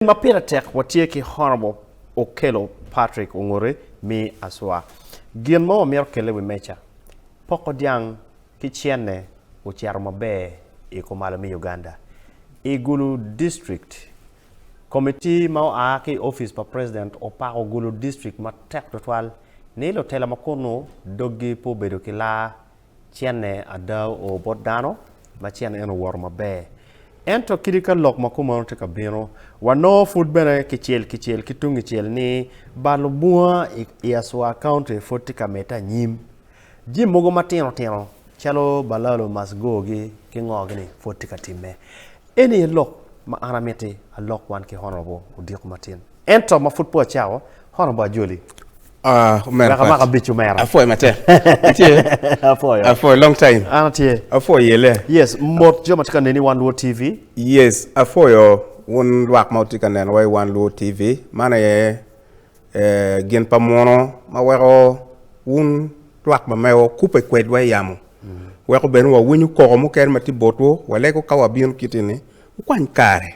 ma pire tek watye ki horo mo okelo Patrick ongote mi aswa gin mo wamito kele wi meca poko dyang ki cene ocito maber i kumalo mi Uganda i Gulu district Committee ma oa ki office pa president opako Gulu district matek tutwal ni lutela ma kunu doggi pe obedo ki laa cenne ada oo bot dano, ma cen en owoto maber. Ento kadi ka lok ma kumono tye ka bino, wanongo pud bene kicel kicel ki tungicel ni balo bunga i Aswa County pud tye ka medde anyim. Jami mogo matino tino calo balalo masgogi ki ngo-ni pud tye ka timme. Eni aye lok ma an amiti alok wan ki Honourable Odiko Matin. Ento ma pud pe wacako, hono ba ajoli. Ah, omera Wek pat. amak abic omera. Apwoyo matek. Itye? Apwoyo. Apwoyo long time. An atye. Apwoyo yelle. Yes, mot jo ma tye ka neni i Wan Luo TV. Yes, apwoyo wun lwak ma wutye ka nenowa i Wan Luo TV. Man aye eh, gin pa muno ma weko wun lwak ma mewa wukubbe kwedwa i yamo. Weko bene wawinyo koko mukene ma tye botwu, walego ka wabino kiti-ni, wukwany kare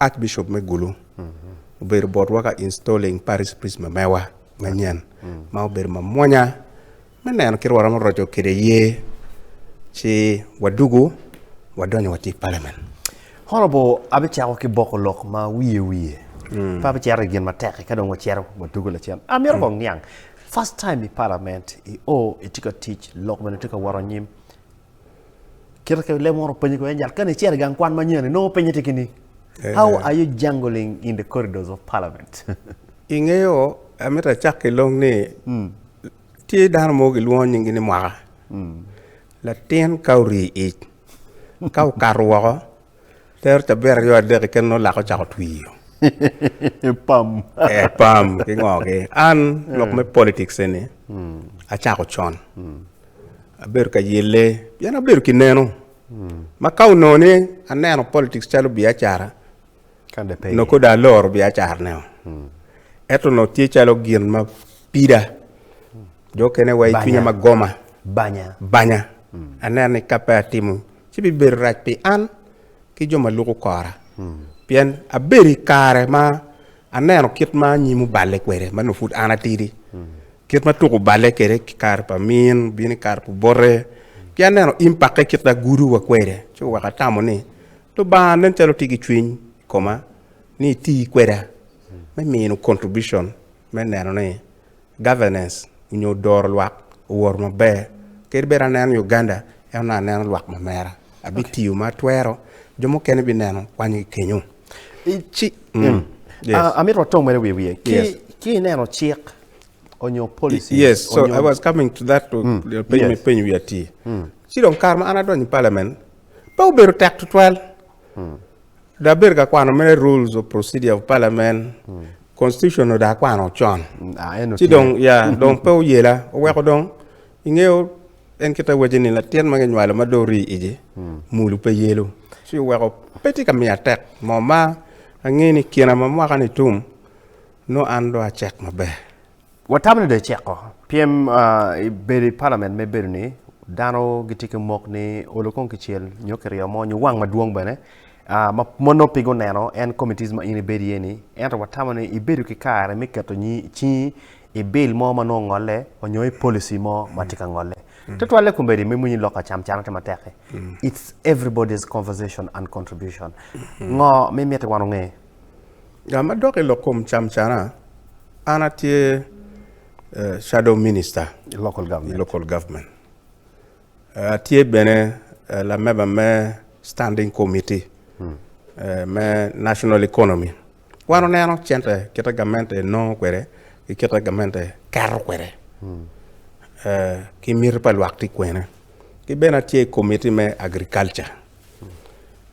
Archbishop me Gulu obedo botwa ka installing parish priest me mewa manyen ma obedo mamwonya me neno kit waromo roco kede ye ci wadugu wadonyo wati parliament. Honorable abicako ki boko lok ma wiye wiye pe abicito i gin matek eka dong wacito wadugu lacen. Amito kong niang first time i parliament i o itye ka tic lok bene tye ka wot anyim Kite ka lemo oro penyo kwen jal kani icero gang kwan manyen inongo penye tye kini eh. How are you jungling in the corridors of parliament? Ingeyo amito acak ki long ni mm. tye dano mo gilwongo nyingi ni mwaka mm. latin ka ori ic ka okato woko Tero cabit aryo adek keken nongo laka ocako twiyo. Pam. Eh, pam ki ngo ki. An lok me politics eni acako con. Abedo ka yelle pien abedo ki neno. Ma ka onongo ni aneno politics calo biacara, Kan de pe. nongo kodi aloro biacarane. Eto nongo tye calo gin ma pida. Jo kene wa i Banya. cwinya ma goma, Banya. banya. Aneno ni ka pe atimo ci bibedo rac pi an ki jo ma luko kora, pien abedo i kare ma aneno kit ma anyim oballe kwede ma nongo pud an atidi, kit ma tuko oballe kwede ki kare pa min obino i kare pa obote, ki aneno im pakke kit ma agudo wa kwede, ci oweko atamo ni Lubanga nen calo tye ki cwiny i koma ni iti kweda me mino contribution me neno ni Governance onyo doro lwak owoto maber. Kadi bed aneno ni Uganda en onongo aneno lwak ma mera. Abi tiyo ma atwero, jo mukene bi neno kwany gi kenyo. Ci, em, Yes. ah, amito watong mere wiye wiye. Ki, Yes. ki ineno cik onyo policies Yes, so onyo- I was coming to that to the peny yes. me peny wi atir. Ci dong kare ma an adonyo i parliament pe obedo tek tutwal. Dong abedo ka kwano mere rules of procedure of parliament, constitution dong akwano con. Ah, eno Ci tye. dong ya dong pe oyela, oweko dong ingeyo en kita waci ni latin ma kinywalo ma dong ori igi mulu pe yelo. Ci oweko pe tye ka miya tek mo ma angeyo ni kina ma mwaka ni tum nongo an dong acek maber. Watamo ni do eceko pyem i bedo i palament me bedo ni dano gitye ki mok ni olo kong kicel nyo kiryo mo nyo wang madwong bene ma mon nongo pe guneno en committees ma in ibedo iye ni ento watamo ni ibedo ki kare me keto cingi i bill mo ma nongo ngolle nyo i policy mo ma tye ka ngolle tutwalle kombeddi me mony lok acam can aye matek it's everybody's conversation and contribution ngo ma imito wan onge? Ga ma dok i lok kom camcana, an atye uh, shadow minister i local government, i local government. Uh, atye bene uh, lameba me standing committee hmm. uh, me national economy wan oneno cente kita gamente nongo kwede ki kita gamente keto kwede hmm. uh, ki miti pa lwak ti kwene ki bene atye i committee me agriculture hmm.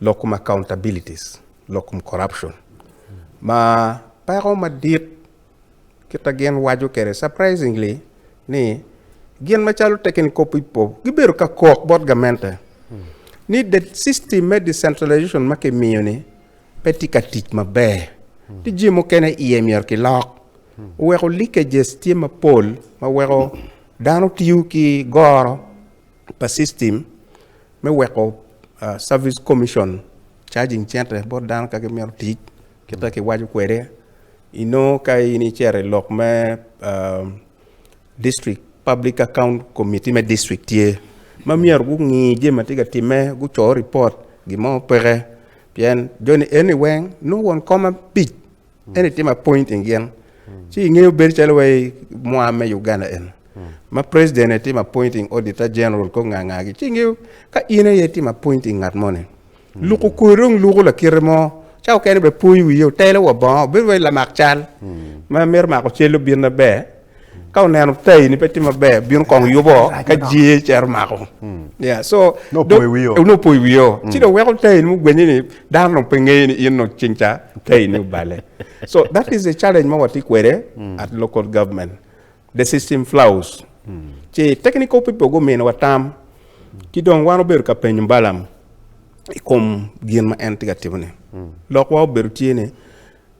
lok kom accountabilities, lok kom corruption. Ma peko madit kita gin waco kede surprisingly ni gin macalo tekeni kop ipo gibedo ka kok bot gamente ni the system me decentralization ma kimiyo ni pe tye ka tic maber. Ti jim mukene iye myero ki lok. Weko leakages tye mapol ma weko dano tiyo ki goro pa system me weko service commission charging cente bot dano ka gimito tic kita kiwaco kwede inongo ka in icero i lok me district public account committee me district tye ma myero gungi jami ma tye ka timme guco report gin mo peke pien joni eni weng nongo won kom abic En itimo appoint in gin. Ci ingeyo bedo calo wa mwa me Uganda en. Ma president e timo appointing auditor general ko nga nga gi. Ci ingeyo ka in aye timo appointing ngat moni. Luko koyo dong luko lakite mo. Ca okene be poyi wiye otelo wa bongo. Bedo wai lamak cal. Ma mito mako cel obin na ber. ka oneno tayi ni pe tye maber bino kong yubo ka jee cero mako yeah so No dong- poyo wiyo. eh, no poyo wiyo ci dong weko tayi ni mugwenye ni dano dong pe ngeye ni in dong cing ca tayi ni obale so that is a challenge ma watye kwede at local government the system flaws ci technical people guminiwa tam ki dong wan obedo ka penyo balam i kom gin ma en tye ka timone lokwa obedo tye ni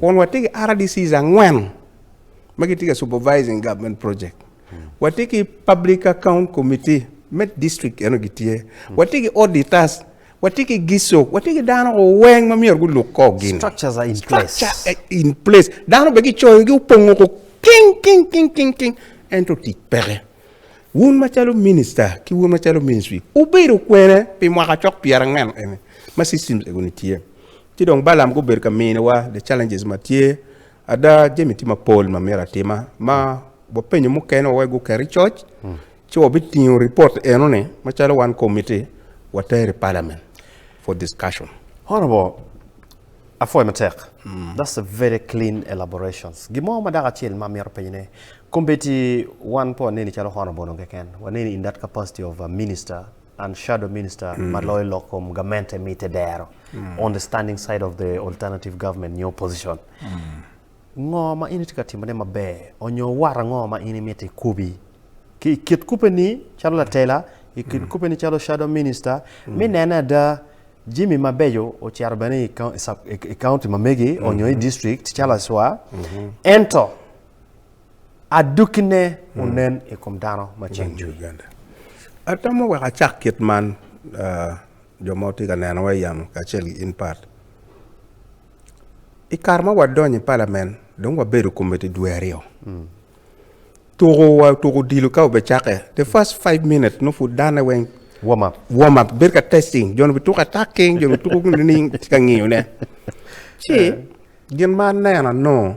Kun watye ki RDCs angwen ma gitye ka supervising government project. Watye ki public account committee me district eno gitye. Watye ki auditors, watye ki gisok, watye ki dano weng ma myero guluk ko gini. Structures are in place. Structure are in place. Dano be gicoyogi opongo ko king king king king king ento tic peke. Wun macalo minister ki wun macalo ministry ubedo kwene pi mwaka cok pyerangwen eni ma systems egoni tye. Ci dong Balaam gubedo ka mini wa the challenges ma tye. Ada jami tye mapol ma myero atima ma wapenyo mukene wawek guket i coc ci wabitingo report eno ni macalo wan committee water i parliament for discussion. Honorable, apwoyo matek. That's a very clean elaborations. Gin mo ma dako acel ma amito penyo ne, committee wan pe waneni calo honorable dong keken, waneni in that capacity of a minister and shadow minister ma loyo lok kom gamente mite dero on the standing side of the alternative government nyo opposition. Ngo ma in itye ka timone maber onyo wat ango ma in imito ikubi ki i kit kubeni calo latela, i kit kubeni calo shadow minister me nene ada jami mabeco ocito bene i county ma megi onyo i district calo acwa. Ento. Adukkine onen i kom dano ma ceng cwiny. Atamo wek acak kit man, jo ma wutye ka nenowa i yamo kacel ki in Pat. I kare ma wadonyo i palamen, dong wabedo komiti dwe aryo. Tuko wa, tuko odilo ka obicakke, the first five minutes nongo pud dane weng Warm up. warm up, bedo ka testing, jo-ni bituko attacking, jo-ni bituko nining, tye ka ngiyone. Ci, gin ma aneno anongo,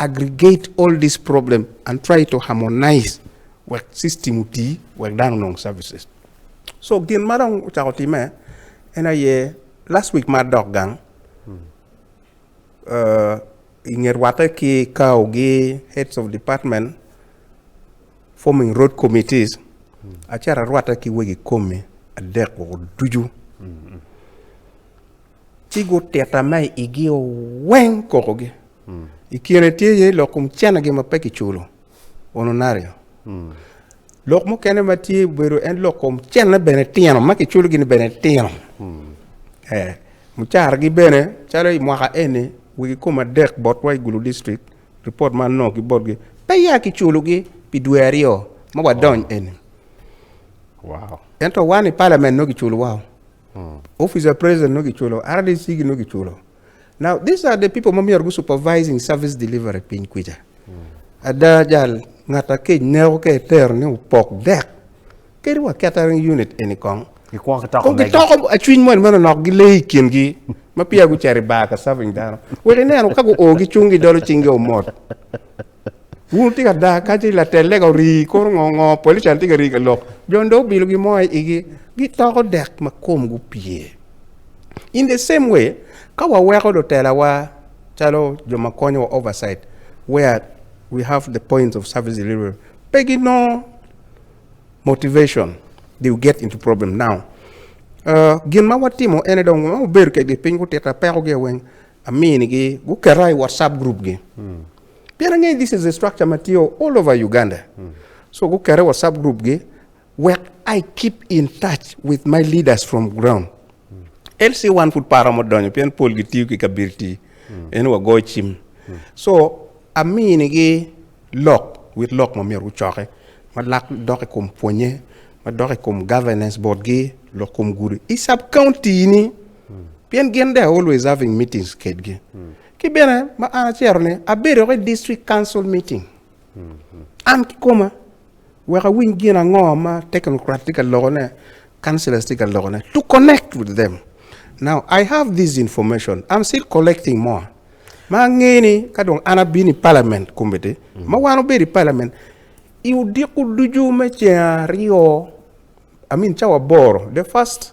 Aggregate all these problems and try to harmonize wek system oti wek dano onong services. So gin ma dong ocako time en aye last week ma adok gang hmm. uh, inge rwate ki kao gi heads of department forming road committees hmm. acara rwate ki wegi komi adek woko ducu hmm. Ci gutita ma i igio weng kokogi. I kine tye iye lok kom cenagi ma pe kiculo, ononario. Lok mukene ma tye obedo en lok kom cenne bene tino ma kiculo gini bene tino. Eh, mucaragi bene calo i mwaka eni wigi kom adek botwa i Gulu District, report ma anongo ki botgi, pe ya kiculogi pi dwe aryo ma wadony eni. Wow. Ento wan i Parliament nongo giculo wao. Office of President nongo kiculo, RDC gi nongo kiculo. Now these are the people ma myero gu supervising service delivery piny kwica. Ada jal ngat akec neko ka etero ni opok dek kadi wa catering unit eni kong. Gikwongo kitoko Kong megi. gitoko acwiny moni meno nok gile i kingi ma pia gucito i bar ka serving dano. Wek ineno ka guo gicung gidolo cinggi omot. Wun tika ada ka ci latel lega orii koro ngo ngo polican tye ka rii ka lok jon do obilo gi mo i igi gitoko dek ma kom gupye in the same way ka waweko do telawa calo jo ma konyo wa oversight where we have the points of service delivery pe gi no motivation they will get into problem now uh, gin ma watimo ene dong ma obedo kegi piny gutita peko gi weng Aminigi guketa i WhatsApp group gi. Mm. Pien angeyo this is a structure ma tye all over Uganda. Mm. So guketa i WhatsApp group gi wek I keep in touch with my leaders from ground. Mm. LC wan pud para mo donyo pien pol gitiyo ki kabiriti. Mm. Eno wagoyo cim. Mm. So aminigi lok with lok ma myero gucoke ma lak dok i kom pwonye ma dok i kom governance board gi lok kom gudi i sub county ni. pien gin they are always having meetings kedgi. Ki bene ma an acero ni abedo ki district council meeting. An ki koma wek awiny gin ango ma technocrat tye ka lokone, councillors tye ka lokone to connect with them. Now I have this information. I'm still collecting more. Ma angeyo ni ka dong an abino i parliament committee, ma wan obedo i parliament, i odiko ducu me ceng aryo, I mean cawa aboro, the first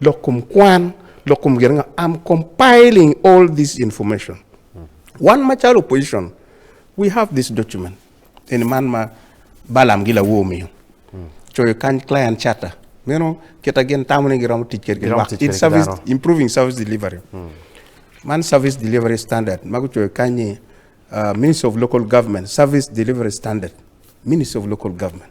lok kom kwan, lok kom gin ango. I'm compiling all this information. Wan macalo opposition, we have this document. Eni man ma Balam gi lawo omiyo. Coyo kany client charter. Meno kita gin tamo ni giromo tic kedi Giromo tic In kede service, dano. improving service delivery. Man service delivery standard ma gucoyo kany ni uh, Ministry of Local Government, service delivery standard. Ministry of Local Government.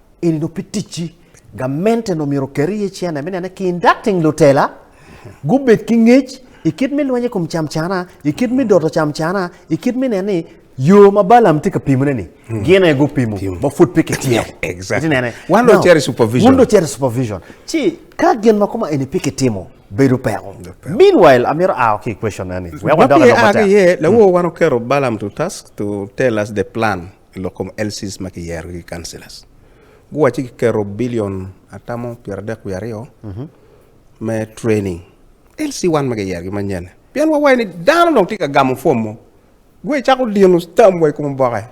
eni dong pe ticci. Gamente dong myero oker iye cene me nene kindating lutela gubed ki ngec i kit me lweny i kom camcana, i kit me doto camcana, i kit me nene ni yo ma Balaam tye ka pimone ni hmm. gin aye gupimo ma pud pe kitimo. Exactly. Wan dong ceri supervision. Wun dong ceri supervision. Ci ka gin ma kuma eni pe kitimo bedo peko. Meanwhile, amiro ao ki question nani. Wek wadoka loko matek. Lawo hmm. wan okero Balaam to task to tell us the plan. i lok kom LCs ma kiyerogi ki councillors. Guwacci kiketo billion atamo pyeradek wiye aryo me training LC1 ma giyerogi manyen. Pien wawayo ni dano dong tye ka gamo form mo, gwe icako dino stamp wa i kom oboke.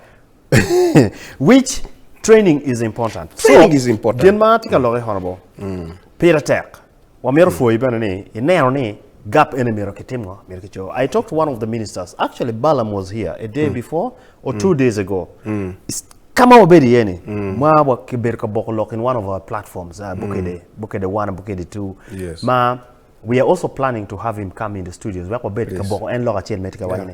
Which training is important. Training is important. Gin ma atye ka lokke honorable, pire tek. Wamito pwoyi bene ni ineno ni gap eni myero kitim ngo, myero kico. I talked to one of the ministers, actually Balaam was here a day before or two days ago. It's- Ka ma wabedo iye ni, ma wa kibedo ka boko lok in one of our platforms, uh, Bukede, Bukede one and Bukede two, Yes. ma we are also planning to have him come in the studios wek wabed ka Yes. boko en lok acel ma itye ka waco-ni.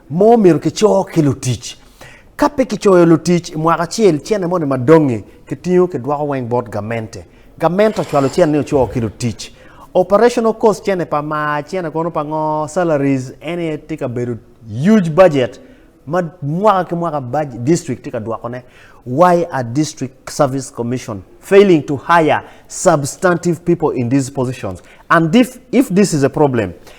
mo myero kicor ki lutic. Ka pe kicoyo lutic i mwaka acel, cene moni ma dong-ngi kitingo kidwoko weng bot gamente. Gamente ocwalo cene ni ocor ki lutic. Operational cost cene pa mar, cene kono pa ngo, salaries, en aye tye ka bedo huge budget ma mwaka ki mwaka district tye ka dwokone. Why are District Service Commission failing to hire substantive people in these positions? And if this is a problem,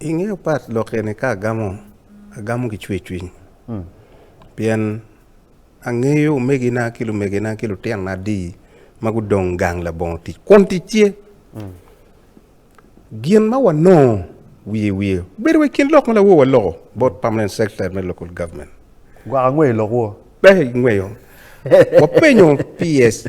I nge pat lok eni ka agamo, agamo ki cwercwiny pien angeyo omegina ki lumegina ki lutinona adi ma gudong gang labongo tic kun tic tye. Gin ma wanongo wiye wiye bedo wa i kin lok ma lawowa loko bot permanent secretary me local government. Gwaka ngweyo lok wo. Pe ingweyo. Wapenyo PS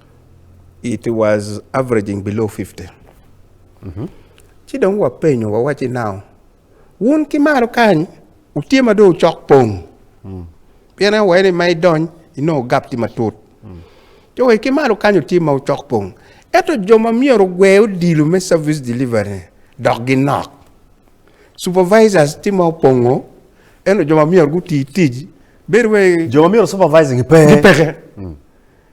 it was averaging below 50. Mm -hmm. Ci dong wapenyo wawacci nao wun ki malo kany utye ma dong ocok pong. Mm. Pien en waye ni ma idony inongo gap tye matut. Mm. Jo wek ki malo kany utye ma ocok pong. Eto jo ma myero ogwe odilo me service delivery dok ginok. Supervisors tye ma opongo eno jo ma myero guti tic bedo wai jo ma myero supervising pe. Gipeke. Mm.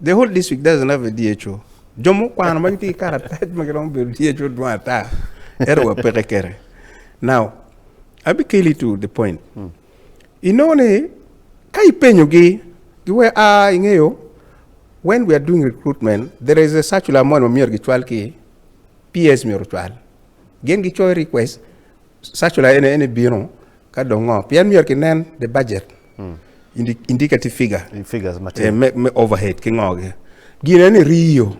The whole district doesn't have a DHO. Jo mukwano ma gitye ki karatac ma giromo bedo DHO dwong ata. Ero wa peke kere. Now, abi keli to the point. Hmm. Ino ni, ka ipenyogi, giwe, ah, ingeyo, when we are doing recruitment, there is a circular mo ma myero gicwal ki PS myero cwal. Gin gicoyo request, circular ene ene bino, ka dongo, pien myero kinen the budget. indicative figure in figures eh, matin me, me overhead ki ngogi gine ni riyo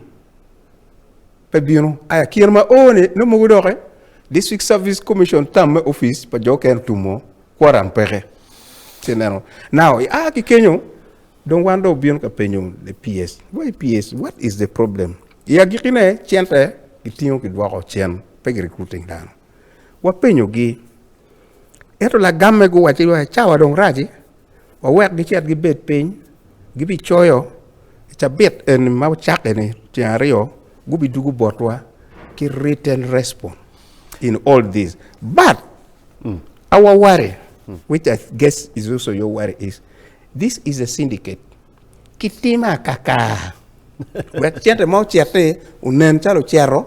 pe bino aya kine ma one no mogo doke district service commission tam me office pa jo ken tumo kwaran peke ci neno now i a ki kenyo dong wan do obino ka penyo le ps why ps what is the problem i agikine cente gitingo gidwoko cen pe gi recruiting dano wapenyogi. Ento lagamme guwacci wa, Cawa dong rac-ci, wawek gicit gibed piny, gibicoyo i cabit eni ma wucakke-ni tyeng aryo, gubidwogo botwa ki written response in all this. But, mm. our worry, mm. which I guess is also your worry, is this is a syndicate. Kitime akaka. Wek cente ma ocit-ti onen calo ocero,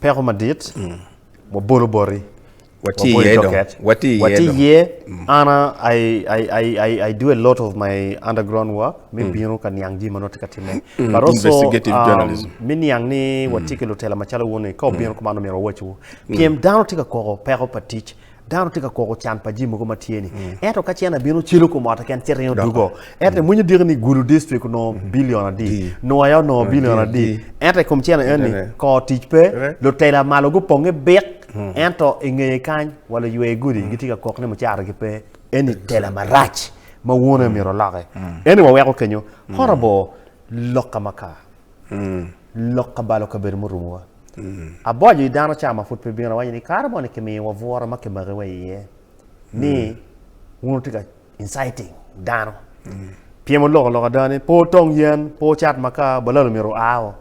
Peko madit, wabolo boti, Watye waboyo iye dong. doket, Watye iye watye dong. iye. An a- I, I, I, I, I do a lot of my underground work me bino ka niang jami ma nongo tye ka timme. But also, Investigative um, journalism. me niang ni watye ki lutela macalo wuni ka obino kuman omyero wawacwu. Pyem dano tye ka koko peko pa tic Dano tye ka koko can pa jii mogo ma tye ni. Ento ka cen abino celo kom ot keken cen ringo dugo. Ento imwinyo diki ni gulu district onongo billion adi, nwaya onongo billion adi. Ento ikom cen eno ni kor tic pe, lutela malo guponge bik, ento ingeye kany wa luywe gudi gitye ka kok ni mucara gi pe. Eni tela marac ma wune myero oloki. Eni waweko kenyo. Horrible lok ka maka. lok kabalo kabedo murumowa. Aboco i dano ca ma pud pe bino awaco ni kare mo ni kimiyo wa bwura ma kimaki wa iye ni wun wutye ka inciting dano pien muloko lok ada ni pe wutong yen, pe wucat makar, balalo myero wua o.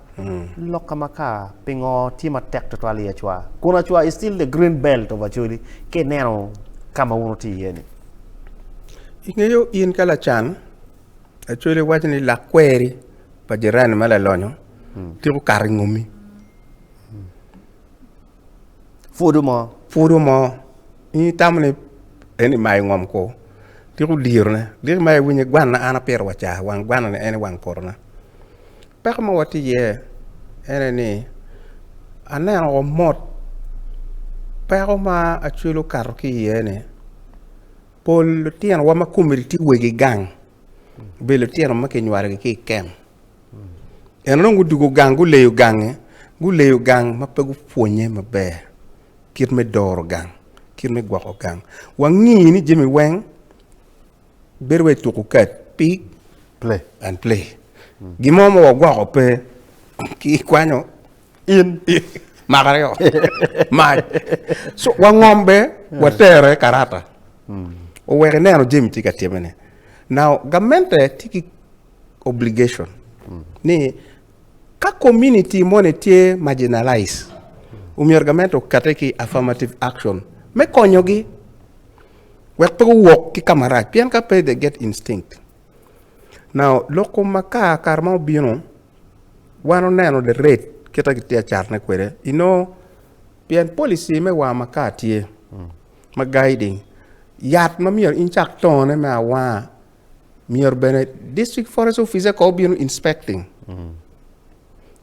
Lok ka makar pingo tye matek tutwal i Acwa? Kun Acwa is still the green belt of Acholi ka ineno ka ma wun wutye iye ni. Ingeyo in ka lacan Actually waco ni lakweri pa jirani ma lalonyo tiko kato i ngomi. Pwodo mo. Pwodo mo. Ini tamo ni en imayo ngom ko. Tiko dirone. Diki ma iwinyo gwana an apiro wa ca. Wang gwana ni en i wang potona. Peko ma wati iye ene ni aneno ko mot peko ma acwelo kato ki iye ni Pol lutinowa ma komgi tye wegi gang obedo lutino ma kinywalogi ki i kem. Ento dong gudwogo gang, guleyo gange, guleyo gang ma pe gupwonnye maber kit me doro gang, kit me gwoko gang. Wangi ni jami weng bedo wai tuku kat, pick and play. Gin mo ma wagwoko pe, kikwanyo in maka aryo mac so wangom be watere karata owek ineno jami tye ka timme ni now gamente tye ki obligation ni ka community moni tye marginalize omyero gamente okate ki affirmative action me konyogi wek pe guwok ki kamarac pien ka pe they get instinct now lok kom makar kare ma obino wan oneno the rate kit ma kitye ka catone kwede inongo pien policy me war makar tye ma guiding yat ma myero in icak tongone me awanga myero bene district forest officer kono obino inspecting.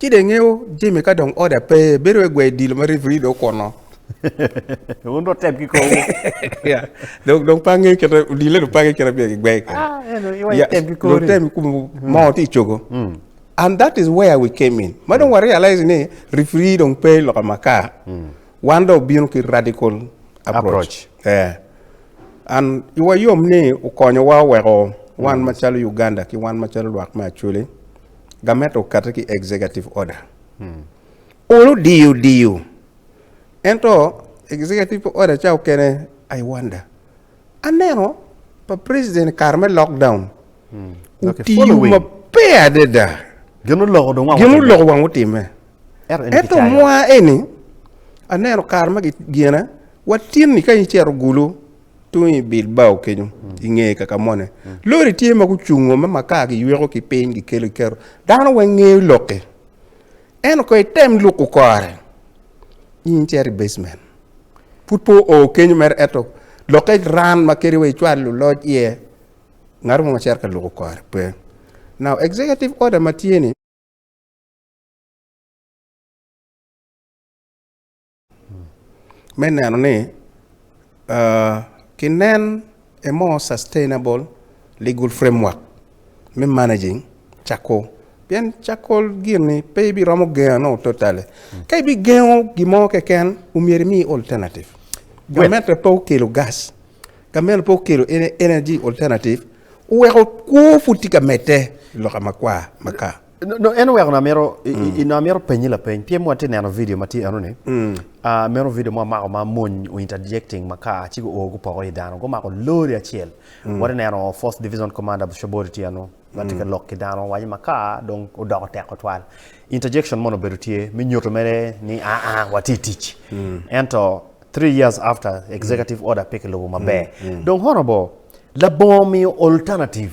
Ci dong ingeyo Jimmy ka dong order pe, bedo wai gwai dilo ma referee dong okuno. Wun dong tem ki kowu. Yeah. Dong dong pa ngeyo kit dilo dong pa ngeyo kit ma bia gigwai kwede. Ah, eno iwa Yeah, item ki dong kori. tem kum moo ti cogo. And that is where we came in. Ma dong wa realize ni referee dong pe i loka makar. Wan dong obino ki radical Approach. approach. Eh. And iwa yom ni okonyowa oweko wan macalo Uganda ki wan macalo lwak me Acholi Gamet okatte ki executive order. Olu diyo diyo. Ento executive order ca okene I wonder. Aneno pa president kare me lockdown. Hmm. Otiyo maber adada. Gin oloko dong wang Gin oloko wang utimme. Ento mwa eni aneno kare ma gigine watinni ka icero gulu Tung i Bilbao kenyo, i nge Kakamone, lori tye ma gucungo ma makar giyweko ki piny gikelo giketo. Dano weng ngeyo lok-ki. Ento kong item luko kore, in icito i basement. Pud pe oo kenyo mere ento lokke ran ma kadi wa icwal luloc iye, ngat mo ma cito ka luko kore pe. Now, executive order ma tye-ni, me neno ni ki nen a more sustainable legal framework me managing cakol pien cakol gini pe ibi romo gengo no totally ka ibi gengo gimo keken omyero imi alternative gamente pe okelo gas gamente pe okelo energy alternative oweko kwo pud tye ka medde loka makwar maka Nongo en oweko amito mm. amito penyi lapeny pien watye neno video ma tye enoni mm. ah, meno video mo amako ma mony interjecting makar ci guo gupoko i dano gumako lori acel mm. watye neno force division commander bushobori tye eno ma tye ka lok ki dano waco makar dong odoko teko twal interjection mono obedo tye me nyuto mere ni aa ah, ah, watye tic ento three years after executive order pe kilubo maber dong honorable labongo miyo alternative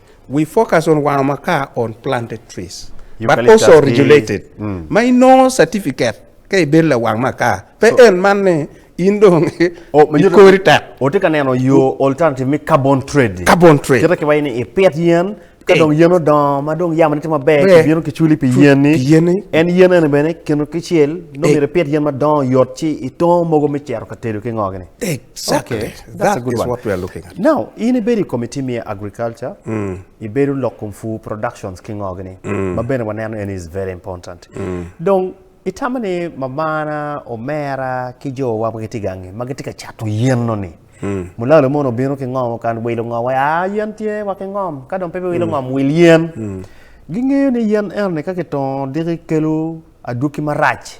We focus on wango makar on planted trees but Eucalyptus also ki- regulated. Ma inongo certificate ka ibedo lawang makar. Pe en man ni in dong O, ma nyuto- ikori tek. Otye ka neno yo alternative me carbon trade. Carbon trade. Kite ki waci ni ipit yen ka Eh. dong yen odongo ma dong yamone tye maber Ber. kibino kiculi pi Fu- yen-ni. pi yen-ni. En yen eni bene kino kicel nongo Eh. myero ipit yen madongo yot ci itongo mogo me cito ka tedo ki ngogini. Exactly. Okay. That's a good one. what we are looking at. Now, in ibedo i committee me agriculture, mm. ibedo lok kum food productions ki ngogi ni, mm. ma bene waneno en is very important. Mm. Dong, itamo ni mamana, omera ki jo wa ma gitye gangi, ma gitye ka cato yenno ni, mm. mulalo mono obino ki ngom okan wilo ngom, ah yen tye wa ki ngom, ka dong pe wilo mm. ngom wil yen. Mm. Gingeyo ni yen eno ni ka kitongo diki kelo adwoki marac.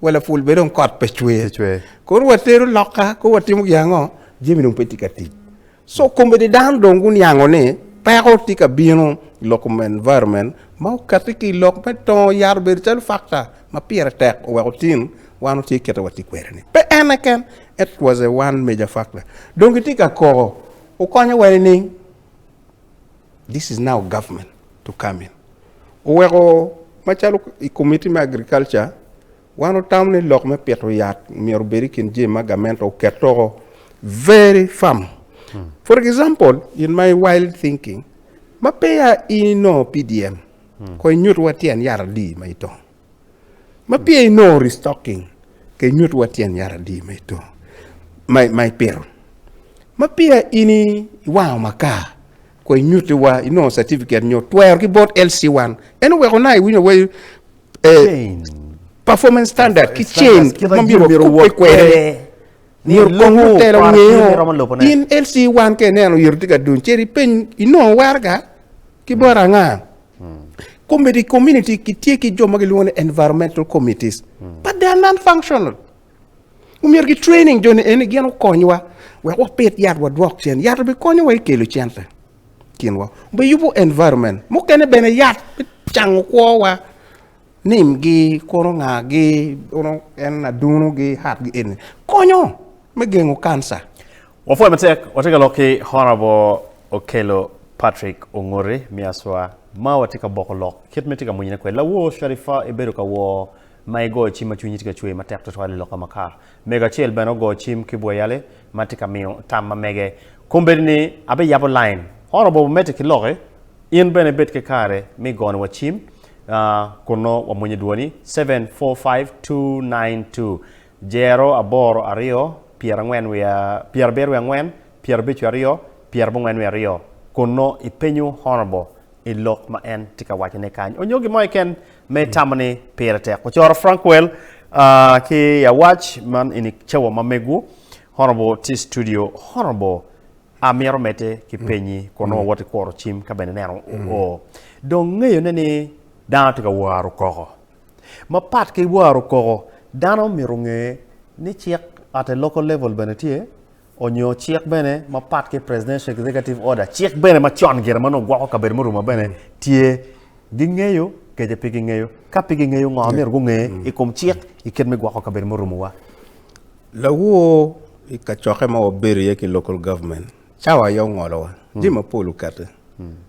Wa lapul bed dong kot pe cwer. Kono watero loka, kono watimo gin ango? Jami dong pe tye ka tic. So komedi dano dong guniango ni peko tye ka bino i lok kom environment ma okati ki i lok me tongo yat obedo calo factor ma pire tek oweko tin wan watye kite watye kwede ni. Pe en keken, it was a one major factor. Dong kitye ka koko, wukonya wa nining? This is now government to come in. Oweko macalo i committee me agriculture wan otamo ni lok me pito yat myero obed i kin jami ma gamente oket toko very firm. Hmm. For example, in my wild thinking, ma peya in ino PDM, hmm. ko inyut wa tyen yat adi ma itong. Ma pye inongo restocking ka inyut wa tyen yat adi ma ito ma ipito. Ma pye in iwango maka kwa inyuti wa inongo certificate nyo twero ki bot LC1 en oweko na iwinyo wa eh, performance standard ki chain ma biro kupe kwere myero kong mutelo ngeyo in LC1 ka ineno yero tye ka duny ceri peny inongo werga ki bot anga. Komiti community gitye ki jo ma gilwongo ni environmental committees but they are non functional. Omyero ki training joni eni gin okonywa wek wapit yat wadwok cen. Yat obikonyowa i kelo cente kinwa. Obiyubo environment. Mukene bene yat cango kwowa nimgi kono ngagi kono en adunogi hatgi eni konyo. me gengo kanca. Wapwoyo matek, watye ka lok ki Honourable Okello Patrick Ongoti me Aswa ma watye ka boko lok kit ma itye ka monyone kwede. Lawor Sharifa ibedo ka wor ma igoyo cim ma cwinyi tye ka cwer matek tutwal i loka makar. Mego acel bene ogoyo cim ki Bweyali ma tye ka miyo tam ma mege. Kombeddi ni abiyabo line, Honourable wamedde ki loki, in bene ibed ki kare me igoniwa cim kun nongo wamwonyo dwoni, seven four five two nine two. Jero aboro aryo, pyerangwen wiye pyerabiro wiye angwen, pyerabic wiye aryo, pyerabongwen wiye aryo, kun nongo ipenyo Honourable i lok ma en tye ka waco ne kany onyo gin mo keken ma itamo ni pire tek. Ocoro Frankwell ki i awac man in i cawa ma megu, Honourable tye i studio. Honourable amito mete ki penyi kun nongo wawot i kuro cim ka bene ineno oo dong ngeyo ne ni dano tye ka waro koko. Mapat ki waro koko, dano omyero onge ni cik at a local level bene tye onyo cik bene mapat ki presidential executive order cik bene macon gire manongo gwoko kabedo me oruma bene tye gingeyo kece pe gingeyo ka pe gingeyo ngo myero gunge i kom cik i kit me gwoko kabedo me orumuwa. Lawor i kacokke ma wabedo iye ki local government Cawa aye ongolowa jami mapol okati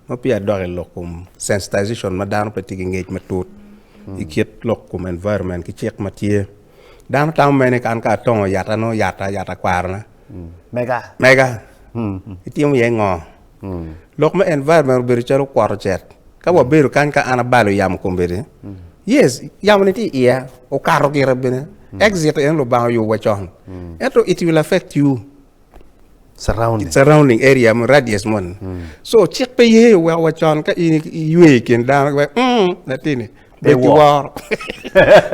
ma peya adok i lok kom sensitization ma dano pe tye ki ngec matut i kit lok kom environment ki cik ma tye. Dano tamo mere ni kan ka atongo yat ano yata yat akwarona Mega. mega itimo iye ngo? Lok me environment obedo calo kwot ocet. Ka wabedo kany ka an abalo yamo kombeddi yes yamo ni tye i iya okato gire bene exit en Lubanga oyobo wa con ento it will affect you. surrounding surrounding area mo radius mo ni so cik pe ye weko wa con ka in ywe i kin dano we mm latini be Be wor. wor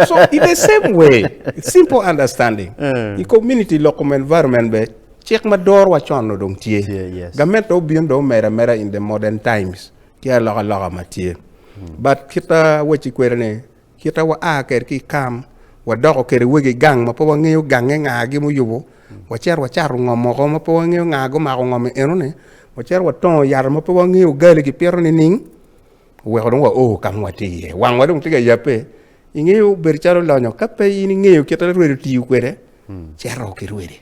so in the same way simple understanding Eh. i community lok kom environment be cik ma doro wa con no dong tye Tye, yes. gamet do obino do omera mera in the modern times tye aloka loka ma tye but kita weci kwede ni Kite wa a kede ki i kam, wadoko kede wegi i gang ma pe wangeyo gange nga gi ma oyubo, wacito wacato ngom moko ma pe wangeyo nga gumako ngom i eno ni, wacito watongo yat ma pe wangeyo gali gi pito nining, oweko dong wa o ka ma watye iye, wang wa dong tye ka yabe, ingeyo bedo calo lonyo ka pe in ingeyo kite ma irwedi tiyo kwede, cito ki irwedi.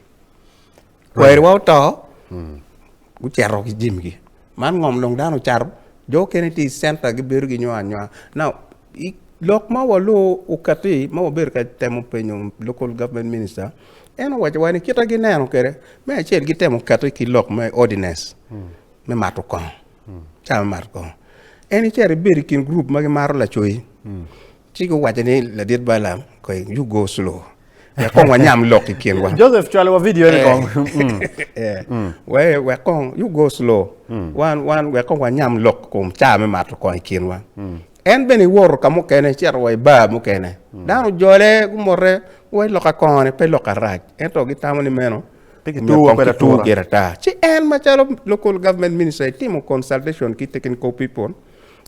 Kwerewa oto, gucito ki jimigi. Man ngom dong dano ocato, jo okene tye i centa gibedo ginywar anywar. Now, i lok ma waluu okatti ma wabedo ka temo penyo local government minister, en owacowa ni kita gineno kwede, me acel gitemo katti ki lok me ordinance me mato kongo, caa me mato kongo. En icito ibed i kin gurup ma gimato lacoc, Ci guwacce ni, Ladit Balaam, koy yugo clu, wek kong wanyam lok i kinwa. Joseph, cwalowa vidio ni kong. Mm. Yeah. We- Wek kong yugo clu, wan wan wek kong wanyam lok kom caa me mato kong i kinwa. En bene iwoto ka mukene, cito wa i baa mukene. Dano ojole, gumote, guwaci lok akongone pe lok arac, ento gitamo ni meno Pe omiyo kituwo kong kwede kituwo atura. kwede ata. Ci en macalo local government minister etimo consultation ki technical people,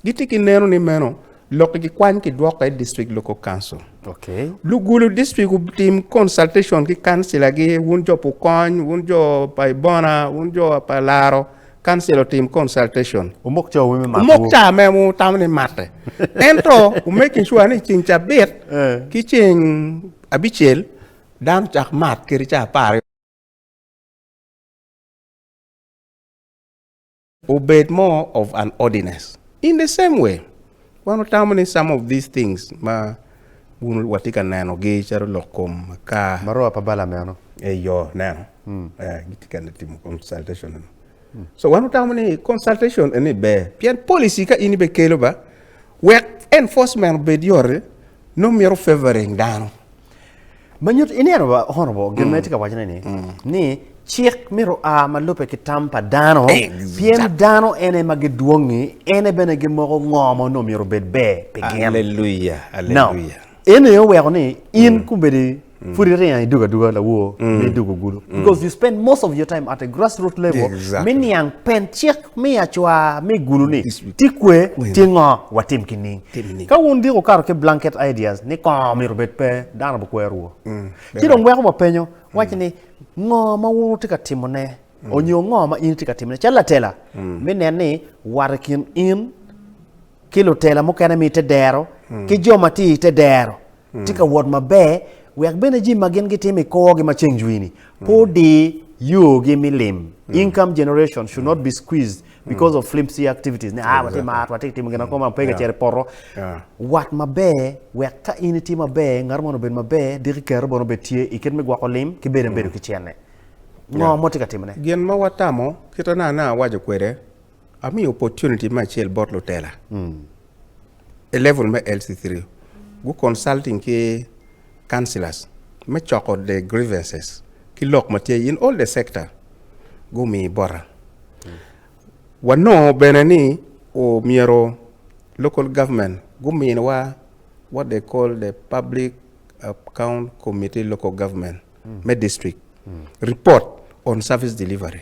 Gitye ki neno ni meno lok gi kwany ki dwoka i District Local Council. Okay. Lugulu district otim consultation ki kansila gi wun jo pukony, wun jo pa ibona, wun jo pa laro, kansila otim consultation. Umok jo wun me mako. Umok ca me mu tamo ni mate. Ento umek insure ni cing cabit eh. ki cing abicel dano cak mat kiri ca apar Obed more of an ordinance. In the same way, wan otamo ni some of these things ma wun watye ka neno gi calo lok kom, aka. Maroa pa Bala meno. Eyo, neno. Eh, gitye ka timo consultation eno. So wan otamo ni consultation eni ber, pien policy ka in ibe kelo ba, wek enforcement obed yot, nongo mito favoring dano. Ma nyut ini eno ba honorable gin ma itye ka wacone ni ni cik myero a ma lube ki tam pa dano pien dano en aye ma gidwongi ene bene gimoko ngo ma onongo myero obed ber pi gin. Aleluya, Now, aleluya. eno aye oweko ni in kumedi pud iringo i dugo aduga lawor me idugo gudo because you spend most of your time at a grassroot level Exactly. me niang pen cik me acwa me gudo ni ti kwe ti ngo watim ki ning Ka wun gik wukato ki blanket ideas ni kongo omyero obed pe, dano bi kwero wo. Ci dong weko wapenyo, wacce ni ngo ma wun wutye ka timo ne onyo ngo ma in itye ka timo ne calo latela me nen ni wat i kin in ki lutela mukene me ite dero ki jo ma tye ite dero tye ka wot maber, wek bene jami ma gin gitimo i korgi ma ceng jwini pe odi yogi me lim. Income generation should not be squeezed because of flimsy activities. Ne, ah, watye mar, watye ka timo gin akoma, pe ka cito i poto. Wat maber, wek ka in itye maber, ngat moni obed maber, diki i kare bene obed tye i kit me gwoko lim ki bedo abedo ki cente. Ngo ma watye ka timone? Gin ma watamo, kit ma an awaco kwede, Amiyo opportunity me acel bot lutela i level me LC3 gu consulting ki councillors me coko the grievances ki lok ma tye in all the sector gumi bota. Wanongo bene ni omyero local government guminiwa what they call the public account committee local government me district report on service delivery.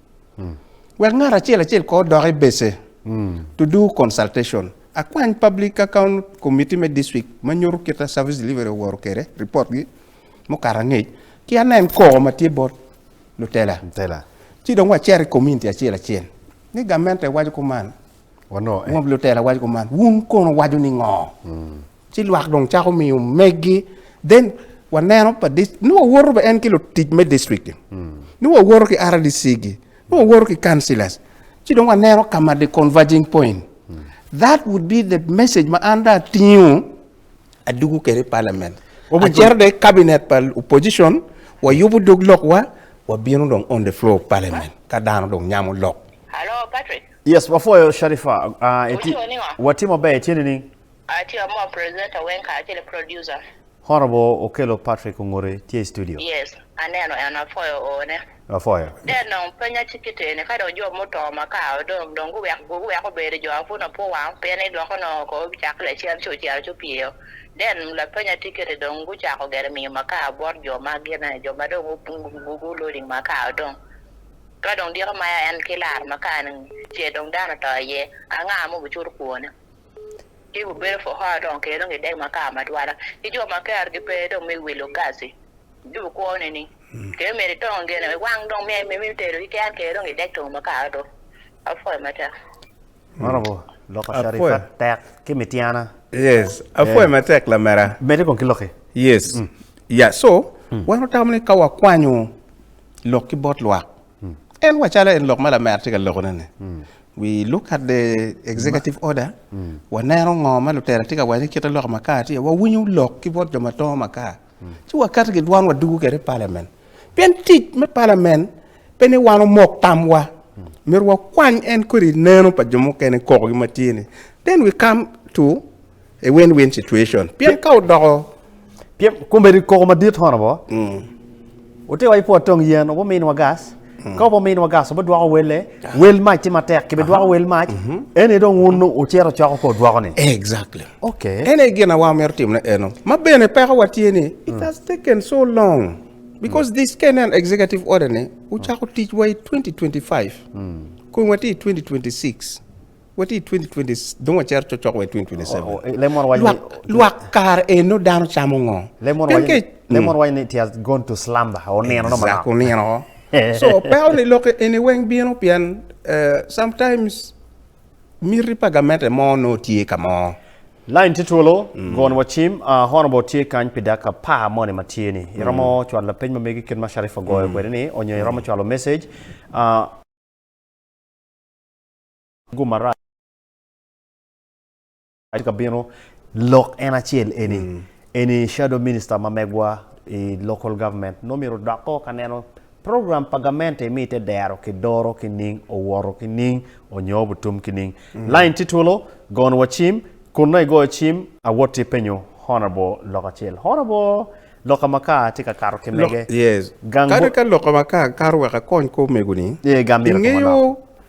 wek ngat acel acel kor odok i base to do consultation. Akwany Public Account Committee me District ma nyuto kita service delivery oworo kede report gi mukato angec ki anen koko ma tye bot lutela. Tela. Ci dong wacet i community acel acel ni gamente waco kuman. Wangub lutela waco kuman, wun kono waco ni ngo? Mm. Ci lwak dong cako miyo meggi. Then waneno pa ni wawoto ba en ki lutic me district. Mm. Ni wawoto ki RDC gi. Ni wawoto ki councillors. Ci dong waneno kama the converging point. Mm. That would be the message ma an da tingo adugu kere parliament. Acero de cabinet pa opposition wayubo dog lokwa wabino dong on the floor of parliament ka dano dong nyamo lok. Hello Patrick. Yes, wapwoyo Sharifa. Ah, iti, Wacoo ningo? watye maber, itye nining? Atye amoo presenter weng kacel ki producer. Honorable Okello Patrick Ongure tye i studio. Yes, aneno en, apwoyo oone. Wapwoyo. Dad dong penya ci kite eni, ka dong jo muto ma kao dong, dong guwek, guweko bedo jo apwun apwu wang, pien ni dwoko nongo ko cak ki lacen ci ocito ci opyeyo. Dad lapenya tye kite dong gucako gire miyo ma kao bot jo ma gine, jo ma dong gu, gu, gu, gu loading ma kao dong. Ka dong diko maya en ki laro makar-ni ce dong dano oto iye, anga ma obicuto kwone? Ci gubedo Fuhora dong kede dong gidek makar matwala, ki jo ma kergi pe dong me wilo gaci. Ci bukwo ne ni, Kede myero itongo gene, iwang dong myel me tedo keken kede dong idek tongo makar-ru. Apwoyo matek. Maromo loko Apwe. Sharifat tek ki Mityana. Yes, apwoyo Eh. matek lamera. Mede kong ki loki. Yes. Yeah, so wan watamo ni ka wakwanyo lok ki bot lwak, en wacalo en lok ma lamera tye ka lokone-ni, we look at the executive order, waneno ngo ma lutela tye ka waco ni kite lok makar tye, wawinyo lok ki bot jo ma tongo makar. ci wakato ki dwan wadwogo kwede i palamen. Pien tic me palamen pe ni wan omok tamwa, myero wakwany en kodi neno pa jo mukene kokogi ma tye ni. Then we come to a win-win situation. Pien ka odoko Pien komedi koko madit hono bo. Wuti wa i pwod tong yen, wuminwa gas. Ka wube ominwa gas, wubidwoko welle. Wel mac tye matek, kibidwoko wel mac. En aye dong wun wucito coko kor dwokone. Exactly. Okay. En aye gin awa mito timo ne eno. Ma bene pekowa tye ni it has taken so long because this ka inen executive order ni wucako ticwa i 2025 kong watye i 2026. Wati i 2020 dong wacero cocok wa i 2027. Lwak kare eno dano camo ngo? Lemon waco ni it has gone to slumber, onino no manok. Onino. So peko ni lok eni weng bino pien eh, sometimes miti pa gamente mo no tye ka mo. Line tye twolo, mm. gon wa cim, uh, ah, honorable tye kany pi dak apar moni ma tye ni. Mm. Iromo mm. chwalo lapeny ma megi kit ma Sharif ogoyo mm. kwede ni, onyo iromo mm. chwalo message, uh, Go marac tye ka bino lok en acel eni eni shadow minister ma megwa i local government nongo myero odok o ka neno program pa gamente mi ite dero ki doro ki ning owoto ki ning onyo obutum ki ning line tye twolo gono wa cim kun nongo igoyo cim awoti penyo honourable lok acel honourable loka makar tye ka kato ki mege Yes. gang Kadi bo ka loka makar kato wek akony kor omego ni, Ee, gam myero otim ingeyo manok.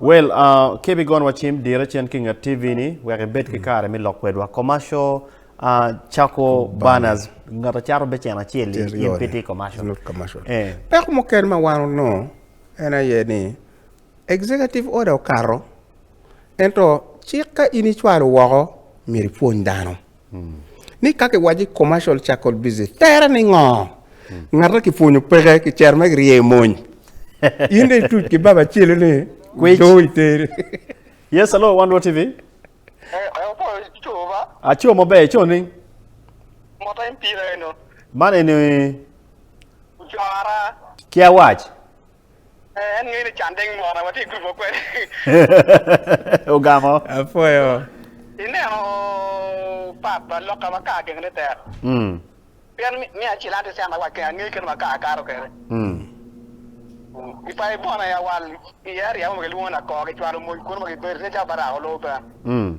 Well, uh, kebe gon wa cim dire cen ki nget TV ni wek ibed ki kare mi lok kwedwa. Commercial, uh, chako banners, ngata cato be cen acel Cen in yone. piti commercial. Not commercial. Eh. Peko mukene ma wan onongo en aye ni executive order okato ento cik ka in icwalo woko myero ipwony dano. Ni ka ki waci commercial charcoal business tere ni ngo? Ngata ki pwonyo peke ki cero me rye mony. In de ituc ki baba celo ni Kwic. do iteri. Yes, hello, One World TV. Eh, eh, opo, co ba? Aco maber, co ning? Mota in pira eno. Man eni Jora. ki awac. En ngeyo ni can deng mona watye i group wa kwede. Ogamo. Apwoyo. Ineno papa loka ma kar geng ne tek. Mm. Pien mi acel ante sen awal keng angeyo kene ma kar kato kede. Mm. I pa ibona ya wal i area mo kilwongo na kor kicwalo moj kuno ma gibedo ne ca barako loo ben. Mm.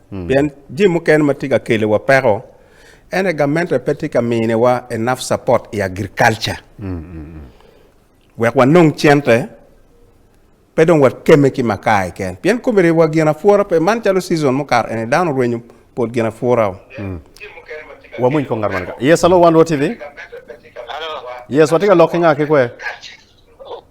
Pien jami mukene ma tye ka keliwa peko, ene gamente pe tye ka miniwa enough support i agriculture. Wek wanong cente, pe dong wakeme ki makaa keken. Pien kome riwa gin apura pe, man calo season mukato eni dano orwenyo pol gin apura o. Wamwony kong ngat man ka. Yes, hello One World TV. Yes, watye ka lok ki nga ki kwe?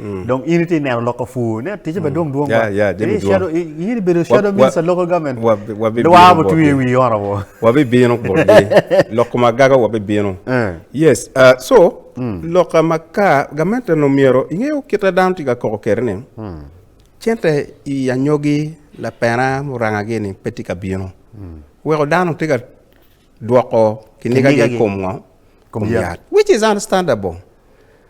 Dong in itye neno loko pur. Ne ticce ba dwong dwong ba. Yeah, yeah, jami Ini dwong. shadow- i- in ibedo shadow Wa- wa- minister local government. wa- wa- bi- Dwar bino butwi botgi. wi honorable. wabibino botgi lok kom agaga wabibino Eh. yes uh, so lok maka gamente no myero ingeyo kite dano tye ka koko kere ni cente i anyogi lapena murangagi ni pe tye ka bino weko dano tye ka dwoko kinigagi Kinigagi. i kom ngo Kom yat. which is understandable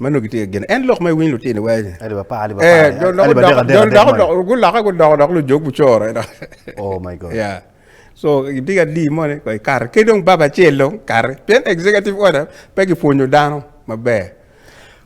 Mano gitye ka gene. En lok ma iwiny lutini weny. Aliba pa, aliba pa. Eh, dok aliba dek, adek, adek, dok man. dok gulaka gudoko dok lujog gucoro. ena. Oh my God. Yeah. So gitye ka di mone ko ikare. Ke dong baba acel dong kare. Pien executive order pe gipwonyo dano maber.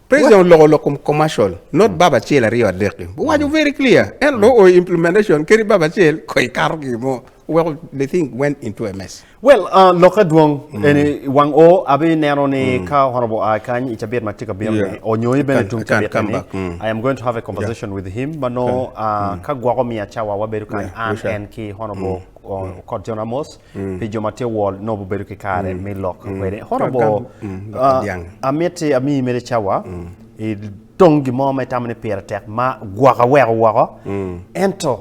President oloko lok kom commercial, not baba acel aryo adek. Mm. Wawaco very clear. En lo o implementation keri baba acel ko ikato gimo. Weko the thing went into a mess. Well, uh, lok adwong mm. eni wang o abi neno ni mm. ka honorable I uh, kany i cabit ma tye ka bino ni onyo i bene tung cabit ni mm. I am going to have a conversation yeah. with him ma no okay. uh, mm. ka gwoko miya cawa wabedo kany yeah. an en ki honorable mm. Mm. kod John Amos mm. pi jo ma tye wol no bubedo ki kare mm. me lok mm. kwede honorable mm. uh, amiti ami mere cawa mm. i tong gimo ma itamo ni pire tek ma gwoko weko woko mm. ento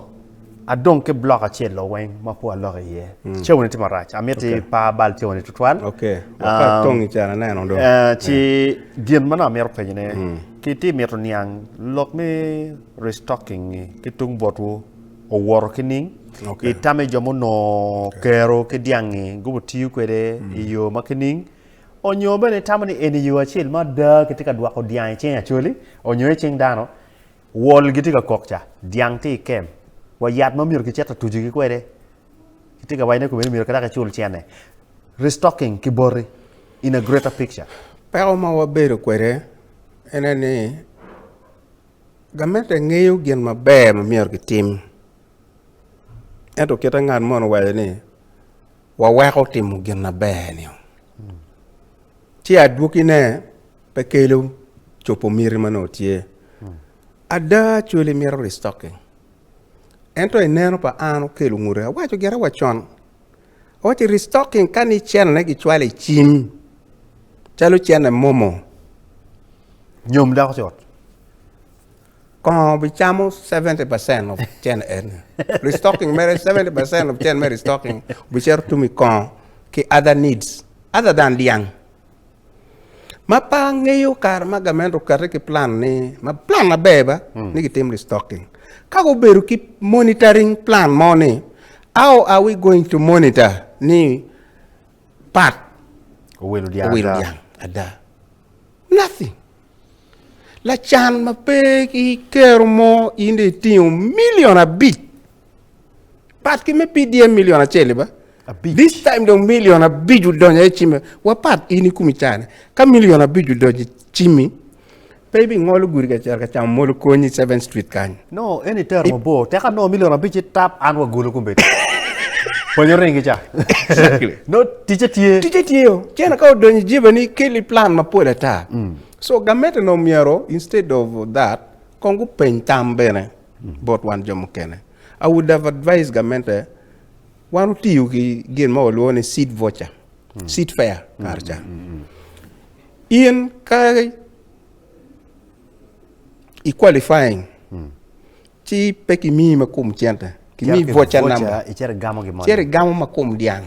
Adong ki block acel o weng ma po alok iye. Mm. Cewni tye marac. Amiti okay. pa bal cewni tutwal. Okay. Waka um, tongi can aneno do. Uh, ci yeah. gin ma namito penyone. Mm. Ki ti mito niang lok me restocking ni ki tung botwu owoto ki ning. Okay. Itame jo muno okay. kero ki diangi gubo tiyo kwede mm. i yo ma ki ning. Onyo bene itamo ni eni yo acel ma da ki ti ka dwako diangi ceng acoli onyo i ceng dano. Wol gitye ka kok ca, dyang tye i kem, wa yat ma myero kicit ka tucogi kwede, kitye ka waco ni kome ni myero kirak icul cene. Restocking ki boti in a greater picture. Peko ma wabedo kwede ene ni gamente ngeyo gin maber ma myero kitim, ento kite ngat moni owaco ni waweko timo gin maber-ni. Ci adwogine. pe kelo copo miti ma nongo tye. Ada actually mito restocking. Ento i neno pa an okelo ngute. Awaco gire wa con. Awaco restocking ka ni channel ne gicwalo i cim. Calo channel momo. Nyom dako cot. Kongo bicamo 70% of channel eni. Restocking mere 70% of channel mere restocking. Bicero tumi kongo ki other needs. Other than liang. Ma pe angeyo kare ma gament okati ki plan ni ma plan maber ba hmm. ni gitim restocking. Ka gubedo ki monitoring plan mo ni how are we going to monitor ni pat owelo dyang ada. Nothing. Lacan ma pe ki kero mo in dong itingo milion abic. Pat ki me PDM milion acel ba. Abic. This time dong milion abic odonyo e cimi. Wapat in i kumi cane. Ka milion abic odonyo i cimi, pe ibingolo gudi ka cero ka camo molo konyi 7 Street kany. Nongo en itero mabor tek anongo milion abic ci tap an wa gulu kumbedi pwonyo ringi ca Exactly. no ticce tye Ticce tye o. Ci en ka odonyo i jeba ni keli plan mapol ata. So gamente nongo myero instead of that kong gupeny tam bene bot wan jo mukene. I would have advised gamente wan wutiyo ki gin ma walwongo ni seed voucher, seed fair kare ca. In ka i qualifying ci pe kimi ma kom centa kimi voca namba cere igamo ma kom dyang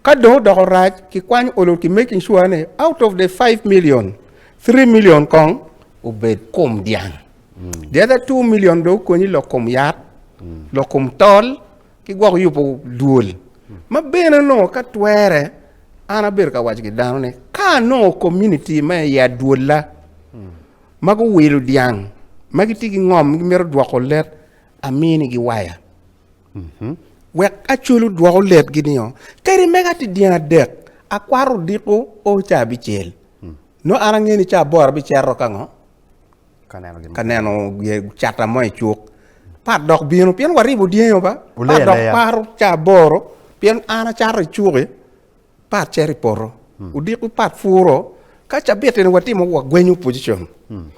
ka dong odoko rac ki kwany olo ki making sure ni out of the 5 million 3 million kong obed kom dyang the other 2 million dong okonyi lok kom yat lok kom tol ki gwok yubo dwol, ma bene onongo ka twere an abedo ka waco ki dano ni ka anongo community me i adwola ma guwilo dyang ma gitye ki ngom gimito dwoko let aminigi waya wek aculu dwoko letgi nio kadi mega tye dyang adek akwato odiko o ca abicel no an ange ni ca aboro abicero kango ka neno cata mo i cuk pat dok bino pien waribo dyangi oba pat dok paro ca aboro pien an acato i cuki pat cito i poto hmm. odiko pat puro ka cabiti ni watimo wagwenyo opposition hmm.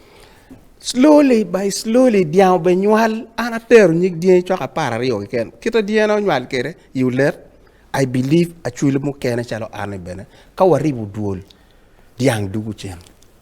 slowly by slowly dyang obe nywal an atero nyig dyangi cok apar aryo keken kita dyangina onywal kede i olet I believe acwil mukene calo an bene ka waribo dwol dyang dugu cen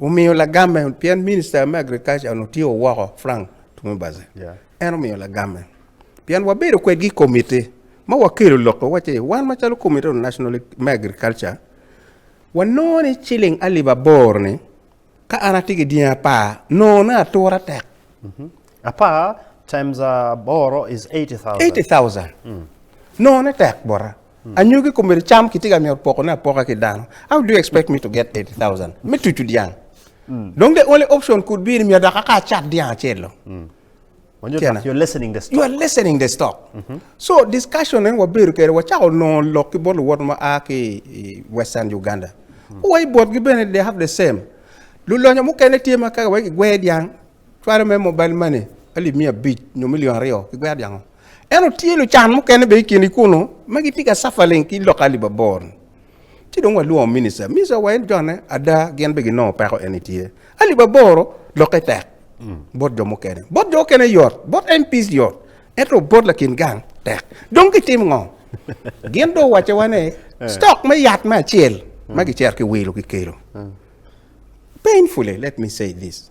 omiyo lagamme pien minista me agriculture onongo tye owoko Frank Tumwebaze yeah. en omiyo lagamme pien wabedo kwedgi i komiti ma wakelo lokke wace wan macalo komiti on national me agriculture wanongo ni ciling alip aboro ni ka an atye ki dyangi apar nongo ne atura tek mm-hmm. apar times aboro is 80000 80000 mm. nongo ne tek bota Anyogi kome to cam kitye ka mito pokone apoka ki dano. How do you expect me to get 80,000? Me tucu dyang. Mm. Dong the only option could be ni miyo daka ka acat dyang acel lo. Mm. You're listening the stock. You are listening the stock. Mm -hmm. So discussion en wabedo kere wachako nongo lok ki bot luwot ma a ki Western Uganda. Mm. Wa i botgi bene they have the same. Lulonyo mukene tye ma kaka wegi gwe dyang Cwalo me mobile money alip miya abic nyo milion aryo ki gwer dyang-o. Ento tye lucan mukene bene i kini kunu ma gitye ka cafa ling ki loka alip abor-ni. Ci dong walwongo minista, minista wa en jone ada gin bene ginongo peko en itye. Alip aboro lokke tek bot jo mukene. Bot jo mukene yot, bot MPs yot, ento bot lakin gang tek. Dong gitim ngo? Gin dong owacowa ni stock me yat me acel ma gicer ki wilo ki kelo. Painfully, let me say this.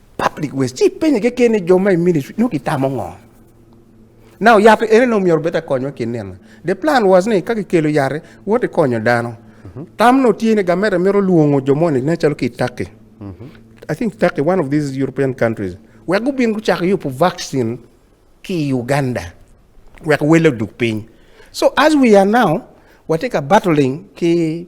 Public waste. Ci ipenye keken ni jo ma i ministry nongo gitamo ngo? Na oyati ene nongo myero bed te konywa ki nino. The plan was ni ka kikelo yati, wot ikonyo dano. Mhm. Tam no tye ni gamete mito lwongo jo moni ne calo ki i Turkey. Mhm. I think Turkey, one of these European countries, wek gubin gucako yubo vaccine ki i Uganda wek wele oduk piny. So as we are now, watye ka battling ki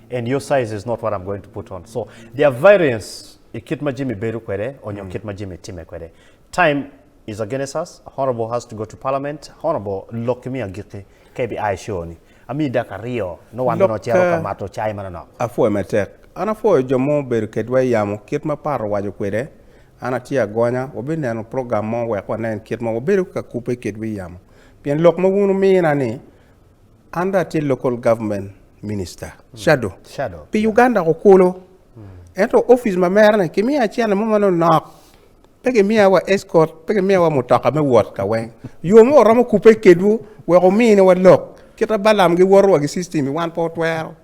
and your size is not what I'm going to put on so there are variance i kit ma Jimmy bedo kwede onyo kit ma Jimmy time kwede time is against us honourable has to go to parliament honourable lok kimi agikki ka ibi a i show ni amiyi daka aryo nongo wan bene wacito ka mato cai manonok. Apwoyo matek. An apwoyo jo ma obedo kedwa i yamo kit ma Pat owaco kwede. An atye agonya wabineno program mo wek wanen kit ma wabedo ka kubbe kedwa i yamo. Pien lok ma wun wumina ni An dong atye Local Government Minister, Shadow, pi Uganda Kukulu. Ento opic ma mere-ni kimiya acene mo ma nongo nok. Pe kimiya wa escort, pe kimiya wa mutoka me wot ka weng. Yo mo waromo kubbe kedwu wek wuminiwa lok. Kit ma Balam giwoto wa gi system-mi wan pe watwero.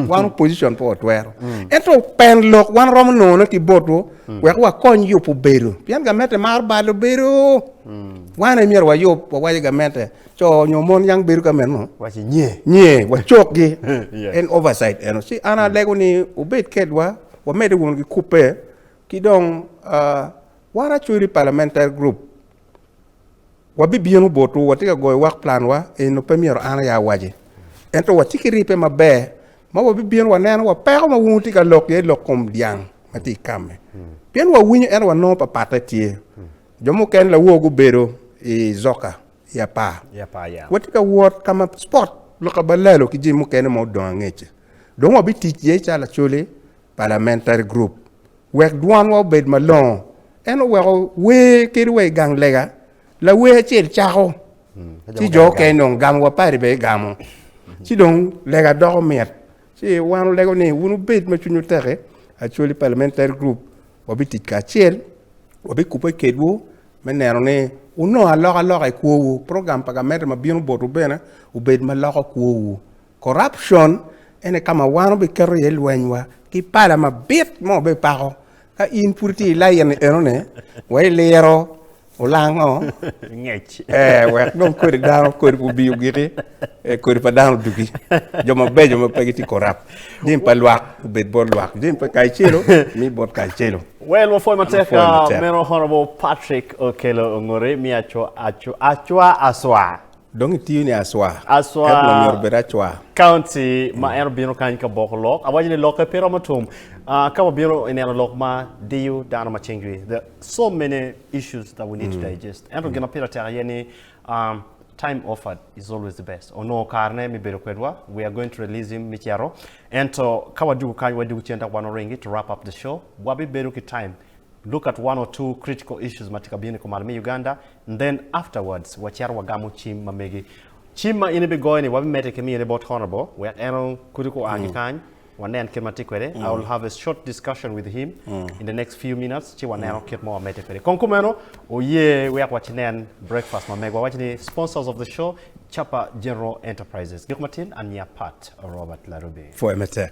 wan opposition pe watwero ento pen lok wan romo nongone ki botwu wek wakony yubo bedo pien gamente maro balo bedo wan aye myero wayub wawaco gamente co nyo mon yang bedo ka meno nye wacokgi en oversight eno ci an alego ni obed kedwa wamede wunu ki kubbe ki dong ah, wan actually parliamentary group Wabibino botwu, watye ka goyo wak planwa enno pe myero an aya awaci. Ento watye ki ripe maber ma wabibino waneno wa peko ma wungu tye ka lok iye lok kom dyang ma tye i kamme. Pien wawinyo ento wanongo papatte tye. Jo mukene lawor gubedo i Zoka i apar. I apar ya. Watye ka wot ka ma spot Luka ba lalo ki jami mukene ma odong angec-ci. Dong wabitic iye calo lacoli, parliamentary group. wek dwanwa obed malongo, en oweko wer kadi wa i gang lega, lawer acel cako, ci jo okene dong gamo wa padi bene gamo, ci dong lega doko mit, ci wan olego ni wun wubed ma cwinywu teki actually parliamentary group wabitic kacel, wabikube kedwu me neno ni wunongo alokaloka i kwowu, program pa gamente ma bino botwu bene obed ma loko kwowu, Corruption ene ka ma wan obiketo iye lwenywa ki pala mabit ma wabipako. Ka in pud itye i lain enoni, wek iliro olango Ngec. ee, wek dong kodi dano kodi gubi ogiki, ee, kodi pa dano odugi. Jo mabeco ma pe gitye corrupt, jami pa lwak obed bot lwak, jami pa Kacelo mi bot Kacelo. Well, wapwoyo matek Wapwoyo ah, matek. meno Honourable Patrick Okello Ongori, miyo acwa, acwa, acwa, aswa. Dong itiyo ni Aswa. Aswa. Ento wa myero obed Acwa. County ma en obino kany ka boko lok. Awaco ni lokke pe romo tum. Uh, ka wabino ineno lok ma diyo dano ma cing jwi. There are so many issues that we need to mm. digest. Ento gin ma pire tek aye ni um, time offered is always the best. Onongo karne mi bedo kwedwa. We are going to release him mi cero. Ento ka wadugu kany, wadugu cen dok wan oringi to wrap up the show. Wabi bedo ki time look at one or two critical issues ma tye ka bino i kumalo me Uganda and then afterwards wacito wagamo cim ma megi. Cim ma in ibigoyo ni wabimedde ki miyone bot Honourable wek en okuto kua ki kany wanen kit ma tye kwede. I will have a short discussion with him in the next few minutes ci waneno kit ma wamedde kwede. Kong kumeno oye wek wacinen breakfast ma megwa waci ni sponsors of the show Chapa General Enterprises. Gik matin, an nyinga Pat Robert Larubi. Pwoya matek.